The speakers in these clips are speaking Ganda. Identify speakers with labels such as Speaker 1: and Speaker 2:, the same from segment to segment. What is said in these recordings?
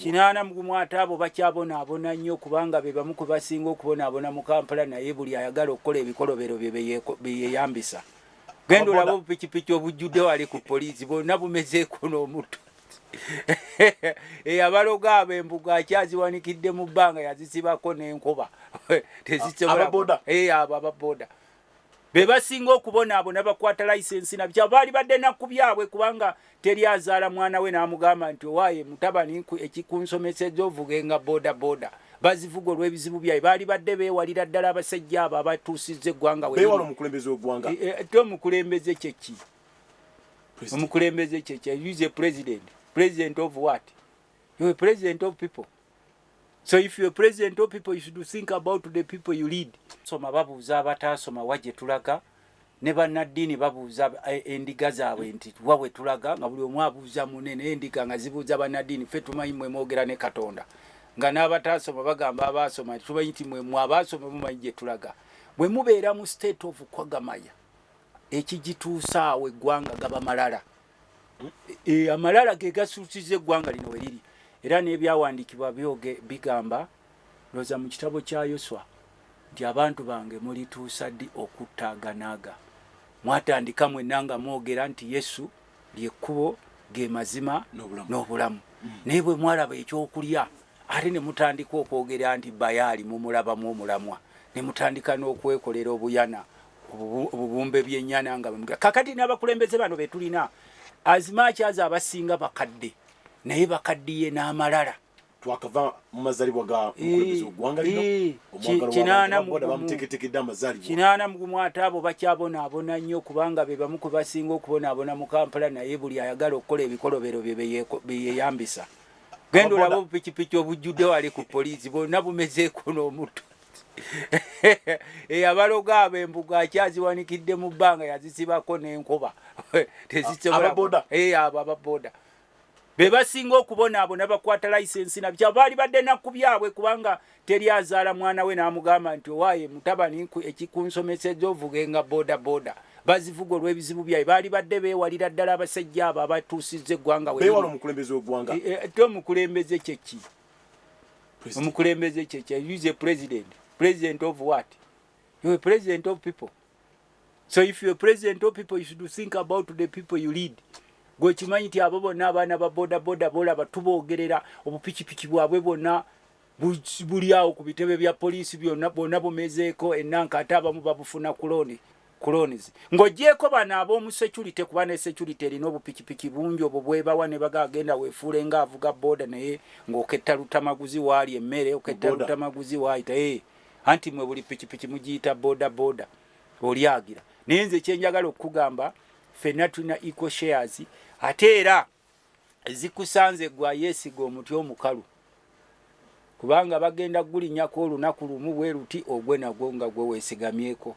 Speaker 1: kinaana mugumu ate abo bakyabonaabona nnyo kubanga be bamu kwe basinga okubonaabona mu kampala naye buli ayagala okukola ebikolobero bye beyeyambisa genda olaba obupikipiki obujjudde wali ku poliisi bonna bumezeeko n'omutu eyabaloga abo embuga akyaziwanikidde mu bbanga yazisibako n'enkuba tezisobola abo ababoda be basinga okubonaabona bakwata layisensi na bya baali badde na ku byabwe kubanga teri azaala mwana we n'amugamba nti owaaye mutabani ekikunsomeseza ovuge nga boda boda bazivuga olw'ebizibu byaye baali badde beewalira ddala abasajja abo abatuusizza eggwanga wewala omukulembeze w'eggwanga
Speaker 2: eh, eh, te omukulembeze
Speaker 1: kyeki omukulembeze kyeki use president president of what you president of people So if you're president of people, you should think about the people you lead. Soma babuuza abataasoma wa gye tulaga ne bannaddiini babuuza eh, endiga zaabwe nti wa we tulaga nga buli omu abuuza mune naye endiga nga zibuuza bannaddiini ffe tumanyi mwe mwogera ne katonda nga n'abataasoma bagamba abaasoma nti tumanyi nti mwe mwe abaasoma mumanyi gye tulaga bwe mubeera mu state of kwagamaya ekigituusaawo eggwanga gaba malala e, amalala ge gasuusiza eggwanga lino weriri era n'ebyawandiikibwa byoge bigamba looza mu kitabo kya yoswa nti abantu bange mulituusa ddi okuttaaganaaga mwatandika mwenna nga mwogera nti yesu lyekkubo ge mazima n'obulamu mm. naye bwe mwalaba ekyokulya ate ne mutandika okwogera nti bayaali mumulabamu omulamwa ne mutandika n'okwekolera obuyana obubumbe byenyana nga bamga kakati n'abakulembeze bano betulina azimaki aza abasinga bakadde naye bakaddiye n'amalala twakava
Speaker 2: mumazalibwa ga eh, mukulembeze ogwanga lino eh, omwagalwabamuteketekedde
Speaker 1: amazalibwa kinaana mugumu ate abo bakyabonaabona nnyo kubanga be bamu kwe basinga okubonaabona mu kampala naye buli ayagala okukola ebikolobero bye beyeyambisa genda olaba obupikipiki obujjudde wali ku poliisi bonna bumezeeko n'omutto eyabaloga eh, abo embugo akyaziwanikidde mu bbanga yazisibako n'enkuba tezisobola eh, abo ababoda be basinga okubonaabona bakwata layisensi na bkyabo baali badde nakku byabwe kubanga teri azaala mwana we n'amugamba nti owaaye mutabani ekikunsomeseza ovugenga boda boda bazivuga olw'ebizibu byaye baali badde beewalira ddala abasajja abo abatuusizza eggwanga weomukulembeze
Speaker 2: wegwanga e, e, ti omukulembeze
Speaker 1: kyeki omukulembeze kyekya use president president of what you a president of people so if you a president of people you should think about the people you lead gwekimanyi nti abo bonna abaana ba bodaboda bolaba tubogerera obupikipiki bwabwe bwonna buli awo ku bitebe bya poliisi byonna bwonna bumezeeko enanka ate abamu babufuna kuloni clones ng'ogyeko bano ab'omu security kuba ne security erina obupikipiki bungi obwo bwebawa ne baga agenda weefuule nga avuga booda naye ng'oketta lutamaguzi waali emmere oketta lutamaguzi waayita ee eh, anti mwe buli pikipiki mugiyita booda booda olyagira naye nze kyenjagala okukugamba fenna tulina equal shares ate era zikusanze gwa yesiga omuti omukalu kubanga bagenda gulinyako olunaku lumu bweruti ogwe nagwo nga gwe wesigamyeko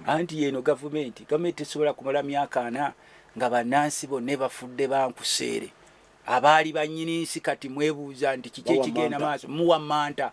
Speaker 2: anti yeno
Speaker 1: gavumenti gavumenti tesobola kumala myaka ana nga banansi bonna bafudde bankuseere abaali banyini nsi kati mwebuuza nti kiki ekigenda maaso muwa manta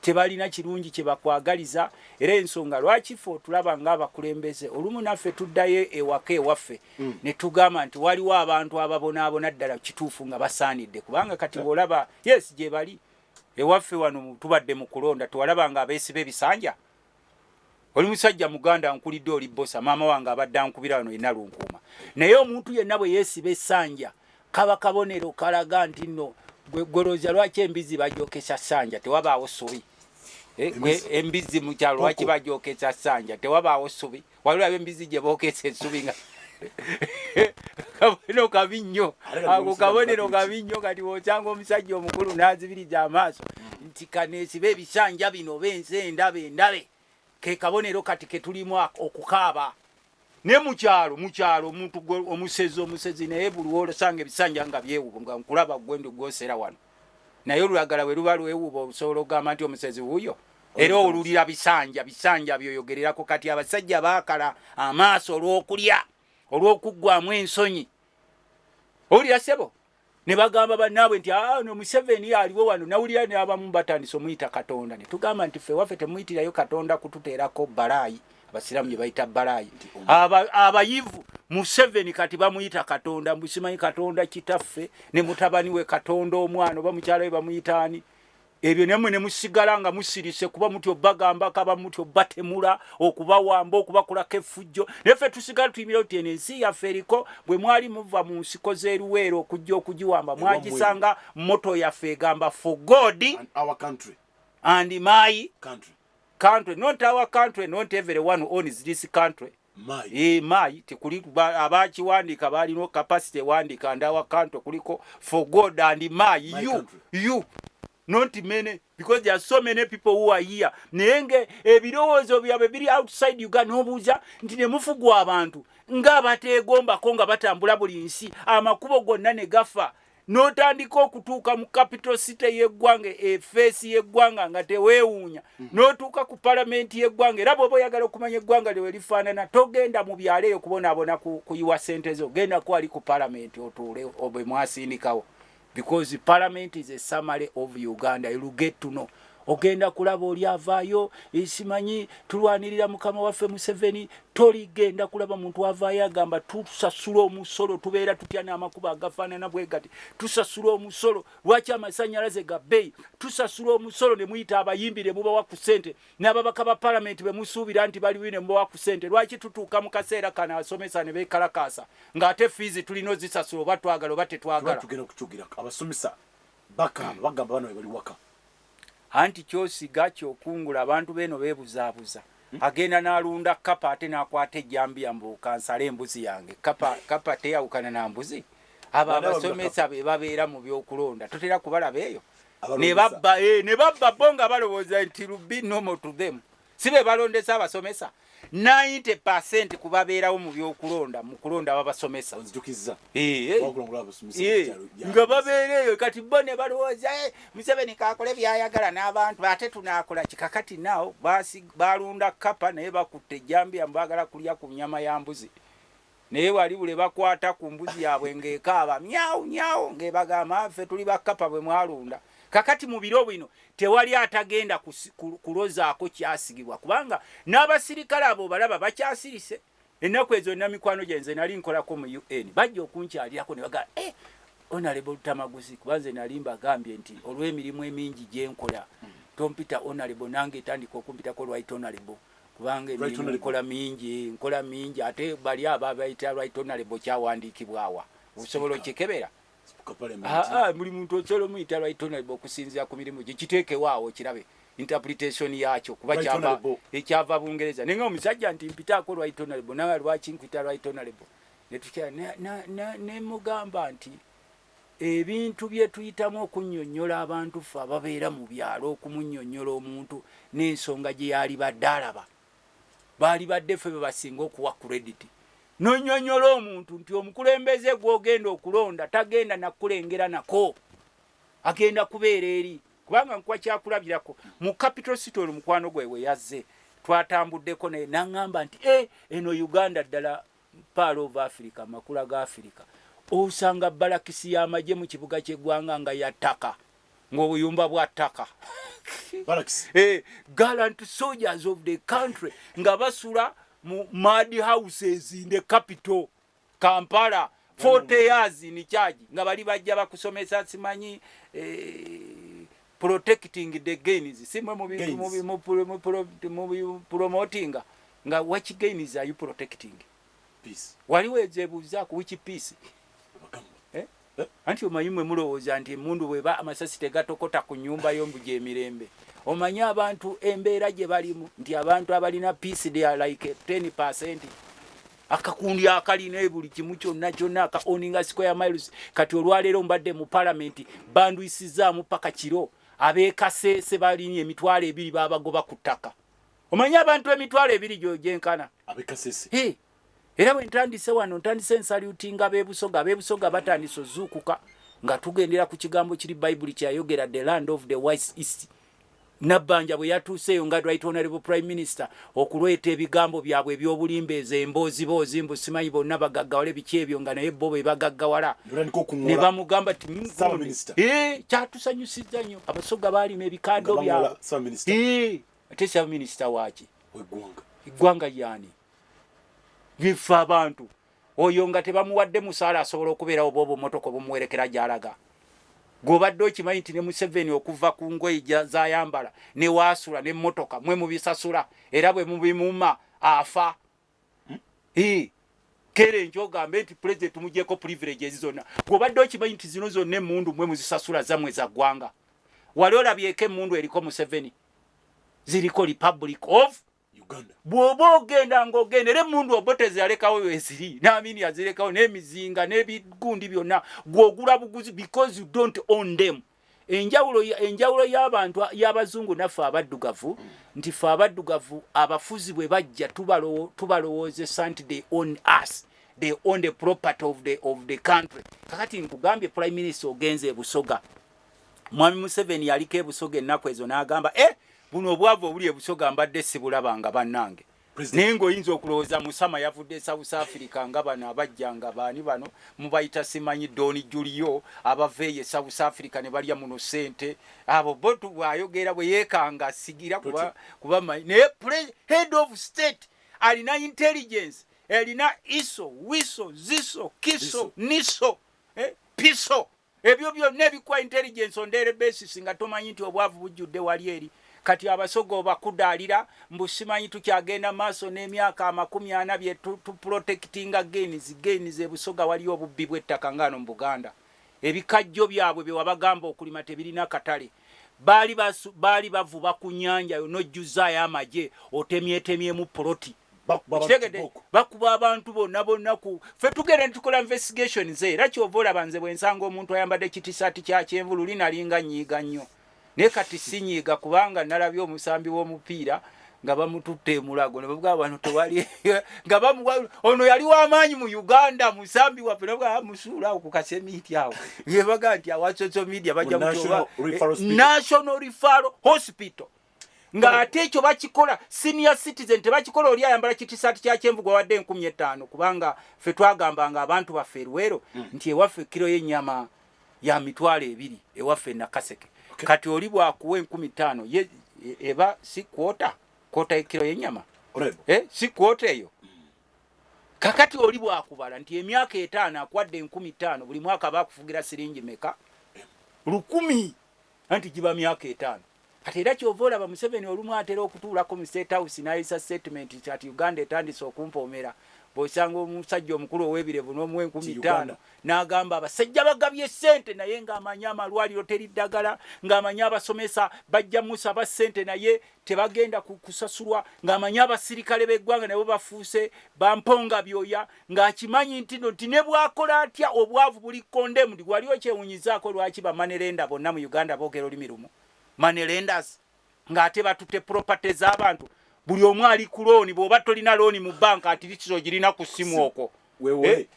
Speaker 1: tebalina kirungi kye bakwagaliza era ensonga lwaki ffe otulaba ng'abakulembeze olumu naffe tuddayo ewaka ewaffe mm. ne tugamba nti waliwo abantu ababonaabona ddala kituufu nga basaanidde kubanga kati bw'olaba yes gye bali ewaffe wano tubadde mu kulonda tewalaba nga abeesiba ebisanja oli musajja muganda nkulidde oli bosa maama wange abadde ankubira wano yenna lunkuuma naye omuntu yenna bwe yeesiba esanja kaba kabonero kalaga nti nno gwegolooza lwaki embizi bajokesa sanja tewabaawo subi eh, embizi mukyalo lwaki bajokesa sanja tewabaawo subi waliwo ab'embizzi gye bookesa ensubi nga kabonero kabi nnyo ako kabonero kabi nnyo kati wokyanga omusajja omukulu n'azibirija amaaso nti kaneesiba ebisanja bino oba ensi endabe endabe ke kabonero kati ke tulimu okukaaba ne mukyalo mukyalo omuntu omusezi omusezi naye buli wolosanga ebisanja nga byewubu nga nkulaba gwendi gwosera wano naye olulagala bwe luba lwewuba olusobola okugamba nti omusezi wuuyo era owululira bisanja bisanja byoyogererako kati abasajja baakala amaaso olw'okulya olw'okuggwamu ensonyi owulira sebo ne bagamba bannaabwe nti ah, no museveni aliwo wano nawulira neabamu batandise omuyita katonda ne tugamba nti ffe waffe temuyitirayo katonda kututeerako balaayi abasiraamu gye bayita balaayi nti abayivu museveni kati bamuyita katonda mbusimanyi katonda kitaffe ne mutabani we katonda omwana oba mukyala we bamuyita ani ebyo nemwe ne musigala nga musirise kuba mutyo bagamba kaba mutyo batemula okubawamba okubakulako effujjo naye ffe tusigala tuyimira nti eno ensi yaffe eriko bwe mwali muva mu nsiko z'eruweera okujja okugiwamba mwagisanga moto yaffe egamba for god
Speaker 2: and my
Speaker 1: country country
Speaker 2: not our country
Speaker 1: not everyone who owns this country mai e, mai tekuli abakiwandika balina capacity wandika and our country kuliko for god and mai my you country. you not many because there are so many people who are here naye nga ebirowoozo byabwe biri outside uganda nobuuza nti nemufugwa abantu nga bateegombako nga batambula buli nsi amakubo gonna ne gafa n'otandika okutuuka mu capital city y'eggwanga efeesi y'eggwanga nga teweewuunya mhm. n'otuuka ku palamenti y'eggwanga era bwoba oyagala okumanya eggwanga lyewe lifaanana togenda mu byalo eyo kubonaabona kuyiwa sente zo genda kwali ku palamenti otuule obwe mwasindikawo because palamenti is a summary of uganda you get to know ogenda kulaba oli avaayo esimanyi tulwanirira mukama waffe museveni toligenda kulaba muntu avaayo agamba tusasula omusolo tubeera tutya n'amakuba agafaanana bwe gati tusasula omusolo lwaki amasanyalaze ga bbeyi tusasula omusolo ne muyita abayimbi ne mubawa ku ssente n'ababaka ba palamenti be musuubira nti balibi ne mubawa ku ssente lwaki tutuuka mu kaseera kano asomesa ne beekalakaasa ng'ate fiizi tulina ozisasula oba twagala oba tetwagala
Speaker 2: Bakaaba bagamba bana bebali waka. Anti
Speaker 1: kyosiga kyokungula abantu beeno bebuzabuza hmm? agenda nalunda kapa ate nakwata ejambiya mbu kansale embuzi yange kapa, kapa teyawukana na mbuzi abo abasomesa bebabeera mu byokulonda totera kubalaba eyo nebabba eh, nebabba bo nga balowooza nti lubi normal to them si be balondesa abasomesa 90 percent ku babeerawo mu byokulonda mu kulonda babasomesa eh, eh. eh, nga babeera eyo kati bo ne balowooza museveni kakole byayagala n'abantu ate tunaakola kikakati naawo balunda kapa naye bakutte ejjambiya mubagala kulya ku nyama ya mbuzi Naye bali buli lwebakwata ku mbuzi yabwe nga ekaaba myau myau nga ebagamba ffe tuli ba kkapa bwemwalunda. Kakati mu biro bino tewali atagenda kulozaako kyasigibwa kubanga n'abasirikale abo obalaba bakyasirise. Ennaku ezo nina mikwano gyange nze nali nkolako mu UN bajja okunkyalirako ne bagamba eh Honorable Lutamaguzi kuba nze nali mbagambye nti olw'emirimu emingi gyenkola tompita Honorable nange tandika okumpitako Right Honorable. kubanga emirimu nkola mingi nkola mingi ate bali aba bayita right honorable kyawandiikibwawa osobola okikebera buli muntu osobola omuyita right honorable okusinzira ku mirimu gye kiteekewaawo kirabe interpretation yakyo kuba kyava ekyava bungereza naye nga omusajja nti mpitaako right honorable nawe lwaki nkwita right honorable netukya nemugamba nti Ebintu bye tuyitamu okunnyonnyola abantu ffe ababeera mu byalo okumunnyonnyola omuntu n'ensonga gye yaalibadde alaba baalibadde ffe be basinga okuwa credit. N'onnyonnyola omuntu nti omukulembeze gw'ogenda okulonda tagenda na kukulengera nako agenda kubeera eri kubanga nkuwa kyakulabirako mu capital city ono mukwano gwe we yazze twatambuddeko naye n'angamba nti eh eno Uganda ddala Pearl of Africa, Amakula ga Afirika, osanga balakisi y'amagye mu kibuga ky'eggwanga nga ya ttaka, ng'obuyumba bwa ttaka. Barracks. Eh, gallant soldiers of the country nga basula mu mad houses in the capital Kampala 40 years in charge nga bali bajja bakusomesa simanyi eh, protecting the gains si mwe mu promotinga nga which gains are you protecting peace waliwo ezebuuza ku which peace eh? eh? anti omanyi mwe mulowooza nti emundu bweba amasasi tegatokota ku nyumba yo mbu gyemirembe omanyi abantu embeera gye balimu nti abantu abalina peace they are like 10 percent akakundi akalina buli kimu kyonna kyonna aka oninga square miles kati olwaleero mbadde mu palamenti bandwisizaamu paka kiro abekasese balinye emitwalo ebiri babagoba ku ttaka omanyi abantu emitwalo ebiri gyenkana era bwe ntandise wano ntandise ensaliutinga bebusoga bebusoga batandise ozuukuka nga tugendera ku kigambo kiri bayibuli kyayogera the land of the wise east Nabbanja bwe yatuuseeyo nga Right Honourable Prime Minister okulweta ebigambo byabwe eby'obulimba ezo embooziboozi mbu simanyi bonna bagaggawale biki ebyo nga naye bo be bagaggawala ne bamugamba ti eh, kyatusanyusizza nnyo abasoga baalima ebikando byabwe eh, ate ssaabaminisita waaki eggwanga yaani bifa abantu oyo nga tebamuwadde musaala asobola okubeerawo oba obumotoka obumuwerekera gyalaga gwobadde okimanyi nti ne museveni okuva ku ngoye zayambala newaasula nemotoka mwe mubisasula era bwe mubimuma afa hmm? kere enjo ogambe nti pulezidenti mugyeko privileges zonna gwobadde okimanyi nti zino zonna emundu mwe muzisasula zamwe za ggwanga wali olabyeko emundu eriko museveni ziriko republic of Uganda. Bwoba ogenda ng'ogenda era emmundu obote zeyalekawo weziri naamini yazirekawo n'emizinga n'ebigundi byonna gwogula buguzi because you don't own them. Enjawulo enjawulo y'abantu y'abazungu naffe abaddugavu nti ffe abaddugavu abafuzi bwe bajja tubalowoozesa nti they own us they own the property of the, of the country. Kakati nkugambye prime minister ogenze e Busoga Mwami Museveni yaliko ebusoga ennaku ezo n'agamba e eh, buno obwavu obuli ebusoga mbadde sibulaba nga bannange naye ng'oyinza okulowooza musama yavudde south africa nga bano abajja nga baani bano mubayita simanyi doni julio abava eyo south africa ne balya muno sente abo botu bwayogera bwe yeekanga sigira kuba, kuba manyi naye head of state alina intelligence elina iso wiso ziso kiso niso eh, piso Ebyo byonna ebikuwa intelligence on daily basis nga tomanyi nti obwavu bujjudde wali eri. Kati abasoga obakudaalira mbu simanyi tukyagenda mu maaso n'emyaka amakumi ana bye tu, tu protectinga gains, gains e Busoga waliyo obubbi bw'ettaka nga wano mu Buganda. Ebikajjo byabwe bye wabagamba okulima tebirina katale. Baali, basu, baali bavuba ku nnyanja yo n'ojjuzzaayo amagye otemyetemyemu poloti. kitegede bakuba abantu bonna bonna ku fe tugenda netukola investigations era kyova olaba nze bwensanga omuntu ayambadde kitisaati kya kyenvu luli nalinga nyiiga nnyo naye kati sinyiiga kubanga nalabye omusambi w'omupiira nga bamututte emulago nebavuga abantu tewali nga bamuwa ono yali wamaanyi mu uganda musambi waffe navuga ah, musuula awo ku kasemiiti awo yebaga nti awa social media bajja national refaro hospital nga ate ekyo bakikola senior citizen tebakikola oli ayambala kitisaati kya kyenvu gwawadde enkumi ettaano kubanga ffe twagamba nga abantu baffe eruwero mm. nti ewaffe kiro y'ennyama ya mitwalo ebiri ewaffe nakaseke okay. kati oli bwakuwa enkumi ttaano ye e, eba si kwota kwota ekiro y'ennyama eh, si kwota eyo mm. kakati oli bwakubala nti emyaka etaano akwadde enkumi ttaano buli mwaka bakufugira siringi meka lukumi Anti giba myaka etaano. Kati era kyova olaba Museveni olumu atera okutuulako mu state house nayisa statement nti kati Uganda etandise okumpoomera. Bwosanga omusajja omukulu owebirevu nomuwa enkumi ttaano nagamba abasajja bagabye ssente naye nga amanyi amalwaliro teri ddagala, nga amanyi abasomesa bajja musaba ssente naye tebagenda kusasulwa ng'amanyi abasirikale b'eggwanga nabo bafuuse bamponga byoya ng'akimanyi ntino nti ne bwakola atya obwavu buli condemned wali okyewunyizaako lwaki bamanerenda bonna mu uganda boogera olulimi lumu manerendas ng'ate batutte property z'abantu buli omu ali ku looni bw'oba tolina looni mu banka ati litisi ogirina ku ssimu okwo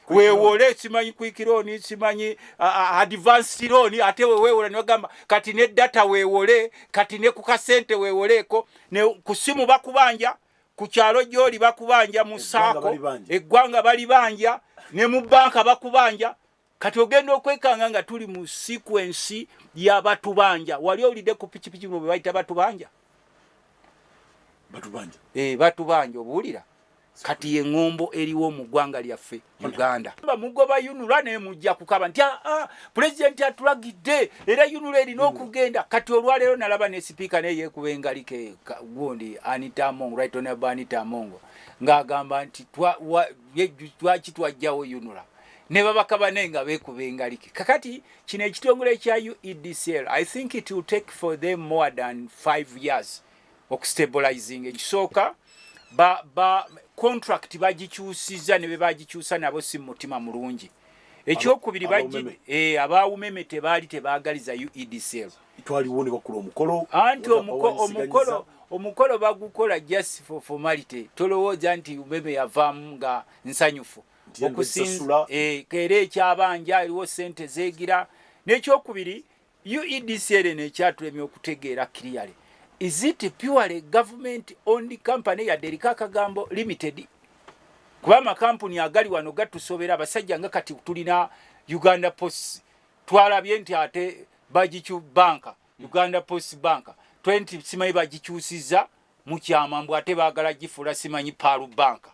Speaker 1: wewole eh, simanyi kwikironi simanyi advance loan ate wewewola newagamba kati ne data wewole kati ne ku kasente wewoleko ne kusimu bakubanja ku kyalo gyoli bakubanja mu saako eggwanga bali banja ne mu banka bakubanja kati ogenda okwekanga nga tuli mu sequence ya batubanja wali olide ku pikipiki no bebayita batubanja batubanja eh batubanja obuulira kati ye ngombo eriwo mu gwanga lyaffe Uganda ba mugoba yunula ne mujja kukaba nti ah, ah president atulagide era yunula eri nokugenda mm. kati olwa lero nalaba ne speaker ne yekuba engalike gundi Anita Among right on Anita Among nga agamba nti twa wa, ye, twa kitwa jawo yunula ne babaka bane nga beekuba engalike kakati kino ekitongole kya uedcl i think it will take for them more than five years okustabilizing ekisooka ba, ba contract bagikyusiza ne bebagikyusa nabo si mutima mulungi ekyokubiri bajjide eh, abaawumeme tebaali tebaagaliza uedcl twaliwo ne bakula
Speaker 2: omukolo anti omukolo
Speaker 1: omukolo bagukola just for formality tolowooza nti umeme yavaamu nga nsanyufu okusinza eh, era ekyabanja eriwo sente zegira nekyokubiri uedc ere nekyatulemya okutegeera clearly is it purely government owned company yadde eriko akagambo limited kuba amakampuni agali wano gatusobera abasajja nga kati tulina uganda post twalabye nti ate bagicu banka uganda post banka twe nti simanyi bagikyusiza mukyama mbu ate bagala gifuula simanyi paalu banka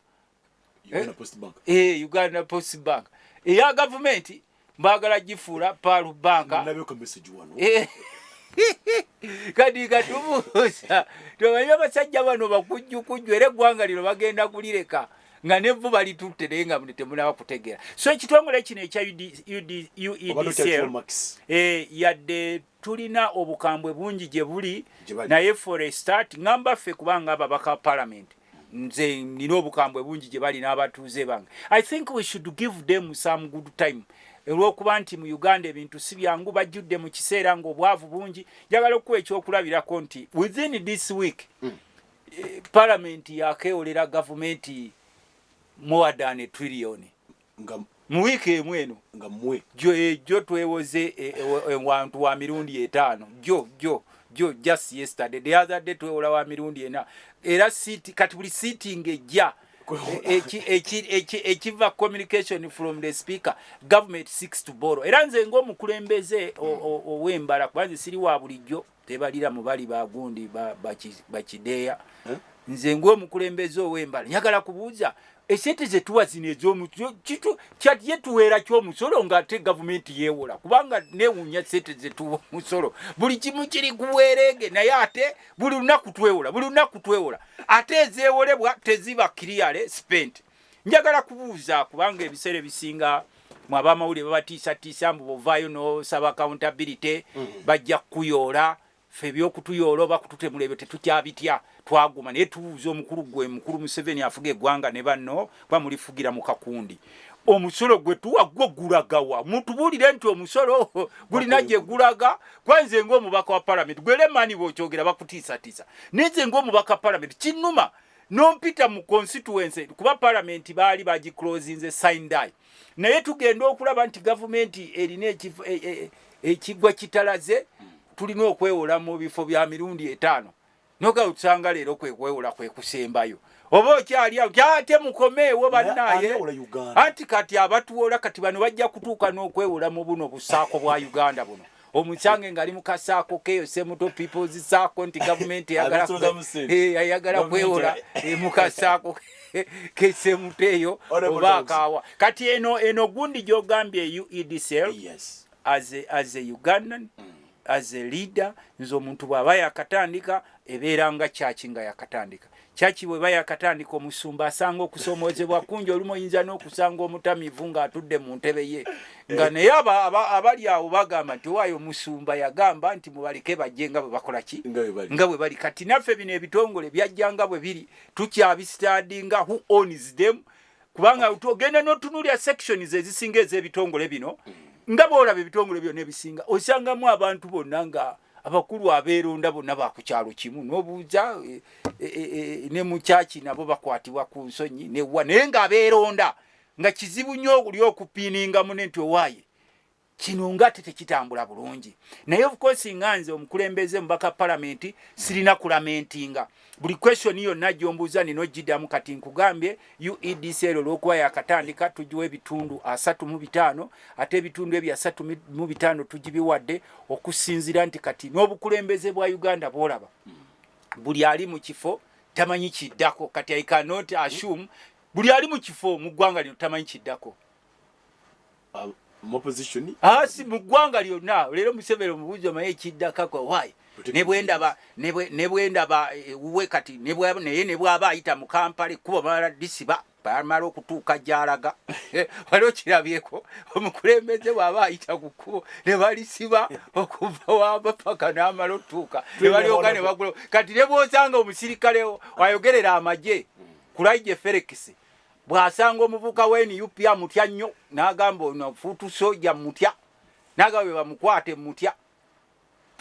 Speaker 1: Uganda eh?
Speaker 2: Post Bank. Eh, Uganda Post
Speaker 1: Bank. Eya gavumenti mbagala gifuula paalu banka. Nalabeko message wano.
Speaker 2: Eh.
Speaker 1: Kadi katubuuza. Tumanyi abasajja bano bakujju kujju era eggwanga lino bagenda kulireka nga nevvu balitutte naye nga temunaba kutegeera. So ekitongole kino ekya UEDCL e eh, yadde Tulina obukambwe bungi gye buli naye for a start ngamba ffe kubanga ababaka parliament nze nina obukambwe bungi gye bali n'abatuuze bange i think we should give them some good time olwokuba nti mu uganda ebintu si byangu bajjudde mu kiseera ng'obwavu bungi njagala okukuwa ekyokulabirako nti within this week mm. palamenti yakeewolera gavumenti more than a trillioni nga mu wiiki emu eno nga mwe jo
Speaker 2: ejo twewoze
Speaker 1: e, e, e, wantu wa mirundi etaano jo jo jo just yesterday the other day twewola wa mirundi ena era siti kati buli sitting ejja ekiva communication from the speaker government six to borrow era nze ngaomukulembeze owembala kuba nze siri wa bulijjo tebalira mu bali ba gundi bakideeya ba, ba eh? nze ng'omukulembeze ow'embala njagala kubuuza esente zetuwa zino ezomukyatye tuweera kyomusolo ngaate gavumenti yewola kubanga newunya sente zetuwa musolo buli kimu kiri kuweerege naye ate buli lunaku twewola buli lunaku twewola ate ezewolebwa teziba kiriyale spenti njagala kubuuza kubanga ebiseera ebisinga mwe abamawulire babatiisatiisa mbu bovaayo nosaba accountability mm. bajja kukuyoola fe ebyokutuyoola oba kututemula ebyo tetukyabitya twaguma naye tubuuza omukulu gwe mukulu museveni afuga eggwanga ne banno kuba mulifugira mu kakundi omusolo gwe tuwa gwo gulagawa mutubuulire nti omusolo gulina gye gulaga kwanze ngaomubaka wa palamenti gwelemani bwokyogera bakutiisatiisa naye nze ngaomubaka palamenti kinuma nompita mu constituency kuba parliament baali bagiclosinze sindai naye tugenda okulaba nti gavumenti erina e, e, ekigwa kitalaze tulina okwewola mu bifo bya mirundi etaano noga otusanga leero kwekwewola kwekusembayo oba okyali awo ate mukomeewo bannaye anti kati abatuwola kati bano bajja kutuuka n'okwewola mu buno busaako bwa uganda buno omukyange ngali mukasaako keyo semuto peoples saako nti gavumenti eyagala eh, kwewola eh, mukasaako kesemuto eyo oba akaawa kati eno eno gundi gyogambye uedsl yes. as, a, as a ugandan mm. as a leader nze omuntu bwaba yakatandika ebeera nga kyaki nga yakatandika Kyaki bweba yakatandika omusumba asanga okusoomozebwa kungi olumu oyinza n'okusanga omutamivu ng'atudde mu ntebe ye nga eh. naye abali awo bagamba nti owaayo omusumba yagamba nti mubaleke bajje nga bwe bakola ki nga bwe bali kati naffe bino ebitongole byajja nga bwe biri tukyabisitadi nga who owns them kubanga ogenda n'otunulya sections ezisinga ez'ebitongole bino mm. nga bwolaba ebitongole byona ebisinga osangamu abantu bonna nga abakulu abeeronda bonna ba ku kyalo kimu n'obuuza e, e, e, ne mukyaki nabo bakwatibwa ku nsonyi newa naye nga abeeronda nga kizibu nnyo oli okupiininga mune nti owaaye kino nga ate tekitambula bulungi naye ofukosi nga nze omukulembeze mubaka palamenti sirina kulamentinga buli question yonna gyombuuza nina ogidamu kati nkugambye uedc ero olwokuba yakatandika tugiwa ebitundu asatu mu bitaano ate ebitundu ebyo asatu mu bitaano tugibiwadde okusinzira nti kati n'obukulembeze bwa uganda bwolaba buli ali mu kifo tamanyi kiddako kati i cannot assume buli ali mu kifo mu ggwanga lino tamanyi kiddako uh,
Speaker 2: muopposition asi ah, mugwanga
Speaker 1: lyona lero musevero mubuzo maye kidda kakwa why nebwendaba nebwendaba eh, uwe kati nebwa naye nebwa abayita mu Kampala kuba mara disiba bamara okutuuka gyalaga waliwo kirabyeko omukulembeze bwaba ayita ku kkubo ne balisiba okuva wamba paka n'amala otuuka ne balyoka ne bagula kati ne bwosanga omusirikale ayogerera amagye mm. kulaije ferekisi bw'asanga omuvuka wa nup amutya nnyo n'agamba ono fuutu soja mutya n'agamba bwe bamukwate mutya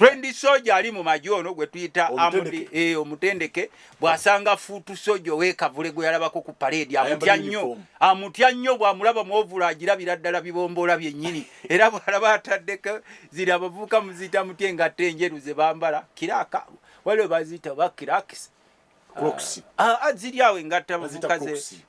Speaker 1: trendi soja ali mu magye ono gwe tuyita amudi eh, omutendeke bw'asanga fuutu soja ow'ekavule gwe yalabako ku paleedi amutya nnyo amutya nnyo bw'amulaba mwovula agirabira ddala bibomboola byennyini era bw'alaba ataddeko ziri abavubuka muziyita mutya engatto enjeru ze bambala kiraaka waliwo baziyita bakirakisa Crocs.
Speaker 2: Ah, ah ziri awo
Speaker 1: engatta bavuka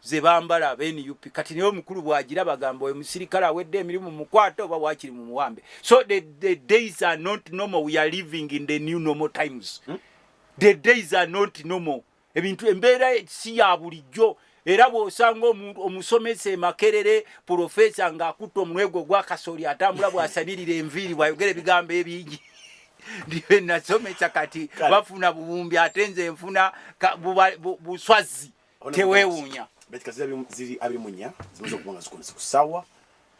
Speaker 1: ze bambala be NUP. Kati niyo mukulu bwagira bagamba oyo musirikale awedde emirimu mukwata oba wakiri mu muwambe. So the, the days are not normal. We are living in the new normal times. Hmm? The days are not normal. Ebintu embeera si ya bulijjo. era bw'osanga omusomesa emakerere pulofeesa ng'akutte omunwe gwe ogwakasooli atambula bw'asabirira enviiri bw'ayogera ebigambo ebingi ndibe nasomesa kati bafuna buwumbi ate nze nfuna buswazi teweewuunya
Speaker 2: kusaawa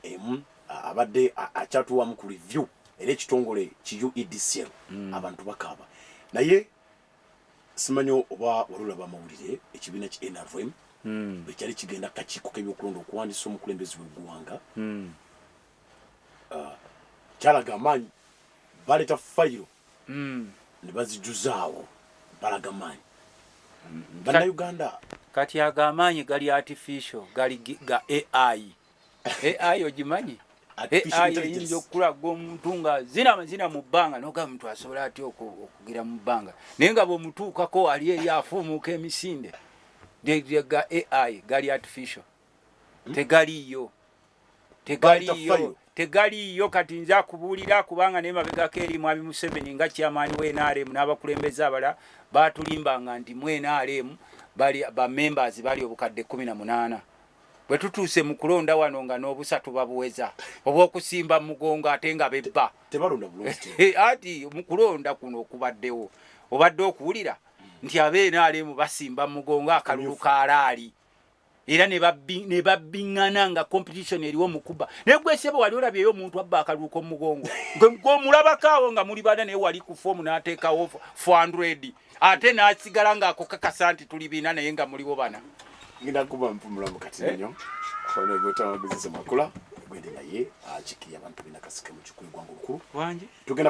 Speaker 2: emu abadde akyatuwamu ku review era ekitongole ki uedcl hmm. abantu bakaaba naye Simanyi oba wali olaba amawulire ekibiina ki nrm hmm. bwekyali kigenda kukakiiko kebyokulonda okuwandisa omukulembezi wegwanga hmm. ah, kyalaga amaanyi baleeta fayiro hmm. nebazijuzaawo balaga maanyi banauganda kati
Speaker 1: ago amaanyi gali artificial gali ga ai AI ogimanyi AI eyinza okukulaga omuntu nga zina amazina mu bbanga nogamba omuntu asobola atya okugira mu bbanga naye nga bwemutuukako ali eyo afuumuuka emisinde ga AI gali artificial hmm? tegaliiyo tegaliiyo tegaliiyo kati nze akubuulira kubanga naye mabegako eri mwami museveni nga kyamaani wa nrm n'abakulembeze abala baatulimbanga nti mu nrm bali bamembers bali obukadde kumi na munaana bwe tutuuse mu kulonda wano nga n'obusa tubabuweza obw'okusimba mu mugongo ate nga bebba
Speaker 2: ati mu kulonda
Speaker 1: kuno okubaddewo obadde okuwulira nti abnrm basimba mu mugongo akalulu kaalaali era ne babbiŋŋana nga competition eriwo mu kuba naye gwesebe wali olabyeyo omuntu abba akalulu k'omu mugongo gwomulabako awo nga muli bana naye wali ku foomu n'ateekawo fandredi ate nasigala nga akukakasa nti tuli biina naye nga muliwo bana ngenda kuba
Speaker 2: mpumula mukati eh? nyo ono gwetawagezesa makula gwende naye akikiri abantu
Speaker 1: bina
Speaker 2: kasike mu kikulu gwangu lukulu tugenda